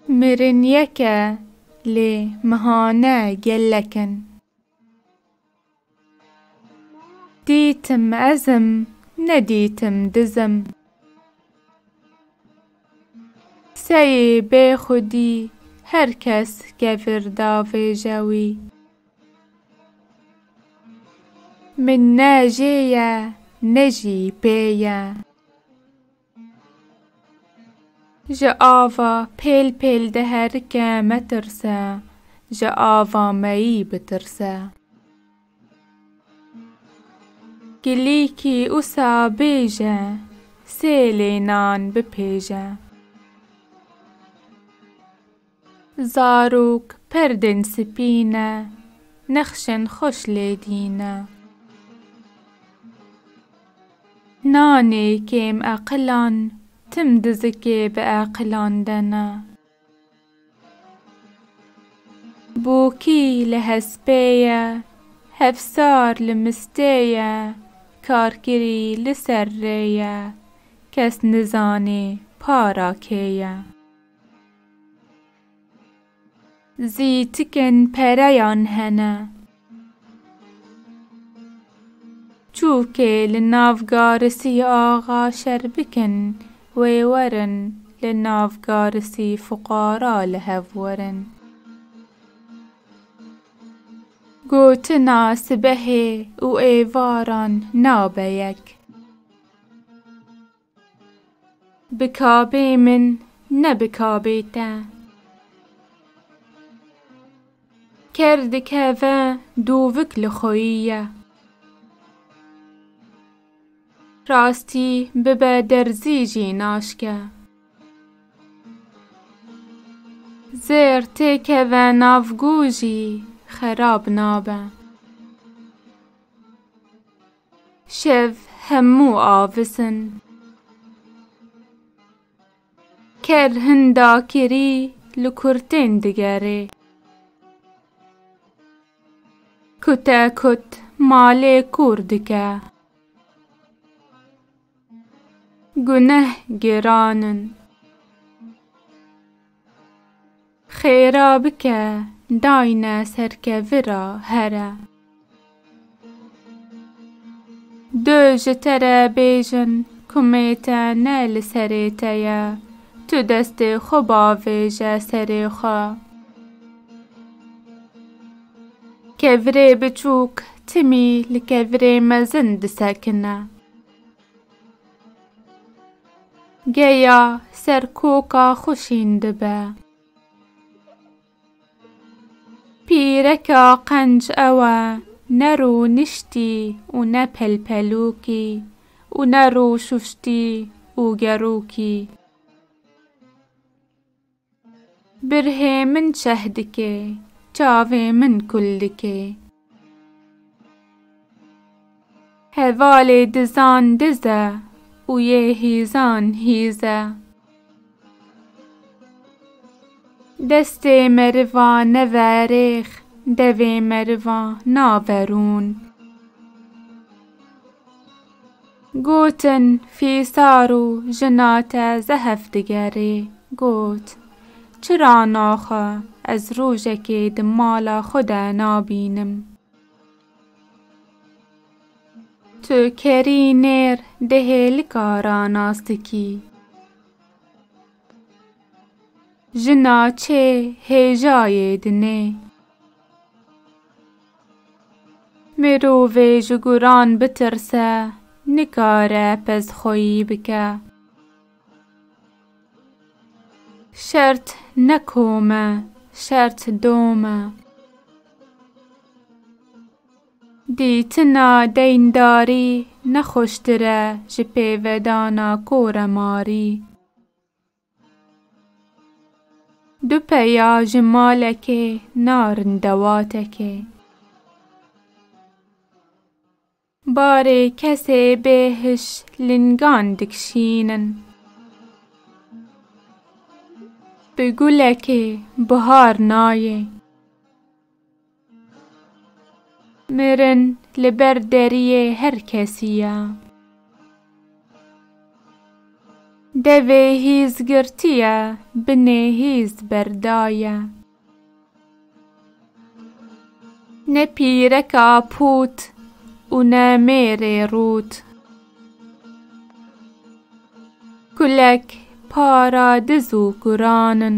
Mirin yek e lê mihane gelek in. Dîtim ez im nedîtim diz im. Seyê bê xwedî her kes kevir davêje wî. Min ne jê ye ne jî pê ye. Ji ava pêl pêl de herike metirse, ji ava meyî bitirse. Kilîkî usa bêje, sêlê nan bipêje. Zarok perdên spî ne. Nexşên xweş lê dîne. Nanê kêm eqilan. Tim dizikê bi eqilan de ne. Bokî li hespê ye. Hevsar li mistê ye. Karkirî li ser rê ye. Kes nizanê para kê ye. Zî tikên pereyan hene. Çûkê li nav garisî axa şer bikin wê werin li nav garisî fuqara li hev werin. Gotina sibehê û êvaran nabe yek. Bi kabê min ne bi kabê te. Ker dikeve dûvik li xweyî ye. Rastî bibe derzî jî naşke. Zêr tê keve nav gû jî xerab nabe. Şev hemû avis in. Ker hin dakirî li kurtên digerê. Kute kut malê kûr dike. Guneh geran in. Xêra bike dayne serkevi ra here. Du ji te re bêjin kumê te ne li serê te ye, tu destê xwe bavêje serê xwe. Kevirê biçûk timî li kevirê mezin disekine. Geya ser koka xwe şîn dibe. Pîreka qenc ew e, ne rûniştî û ne pelpelûkî û ne rûşuştî û gerûkî. Birhê min çeh dike, çavê min kul dike. Hevalê dizan diz e û yê hîzan hîz e. Destê meriva neve rêx, devê meriva nave rûn. Gotin, Fîsar û jina te zehf digerê. Got, Çira naxe, ez rojekê di mala xwe de nabînim. Tu kerî nêr di hêlika ra nas dikî. Jina çê hêjayê dinê. Mirovê ji guran bitirse, nikare pezxweyî bike. Şert ne kom e, şert dom e. Dîtina deyndarî ne xweştir e ji pêvedana koremarî. Du peya ji malekê narin dewatekê. Barê kesê bêhiş lingan dikşînin. Bi gulekê bihar nayê. Mirin li ber deriyê her kesî ye. Devê hîz girtiye, binê hîz berda ye. Ne pîreka pût û ne mêrê rût. Kulek para diz û kuran in.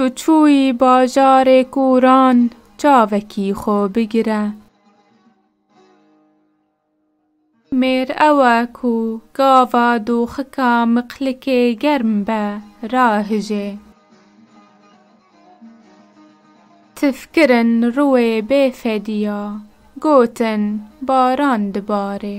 Tu çûyî bajarê kûran çavekî xwe bigire. Mêr ew e ku gava doxika miqlikê germ be rahije. Tif kirin rûê bê fedîya, gotin baran dibare.